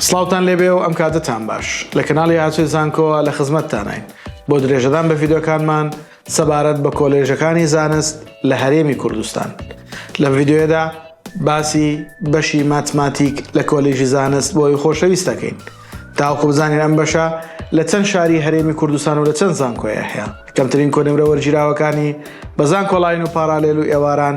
سڵاوتان لێبێ و ئەم کاتەتان باش. لە کەناڵی ئاسۆی زانکۆوە لە خزمەتتانین بۆ درێژەدان بە ڤیدیۆکانمان سەبارەت بە کۆلێژەکانی زانست لە هەرێمی کوردستان. لەم ڤیدیۆیەدا باسی بەشی ماتماتیک لە کۆلیژی زانست بۆی خۆشەویست دەکەین تاوەکو بزانین ئەم بەشە لە چەند شاری هەرێمی کوردستان و لە چەند زانکۆیە هەیە کەمترین کۆنمرە وەرگیراوەکانی بە زانکۆڵاین و پارالێل و ئێواران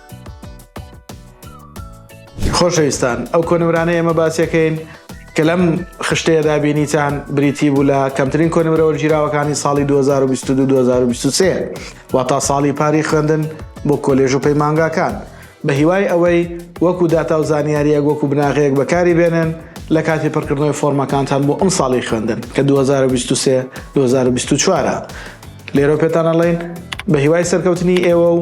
خۆشەویستان ئەو کۆنمرانە ئێمە باسیەکەین کە لەم خشتەیەدا بینیتان بریتی بوو لە کەمترین کۆنمرە وەرگیراوەکانی ساڵی 2022 2023 وا تا ساڵی پاری خوێندن بۆ کۆلێژ و پەیمانگاکان بە هیوای ئەوەی وەکو داتا و زانیاریەک وەکو بناغەیەک بەکاری بێنن لە کاتی پڕکردنەوەی فۆرمەکانتان بۆ ئەم ساڵی خوێندن کە 2023 2024 لێرە پێتانەڵین بە هیوای سەرکەوتنی ئێوە و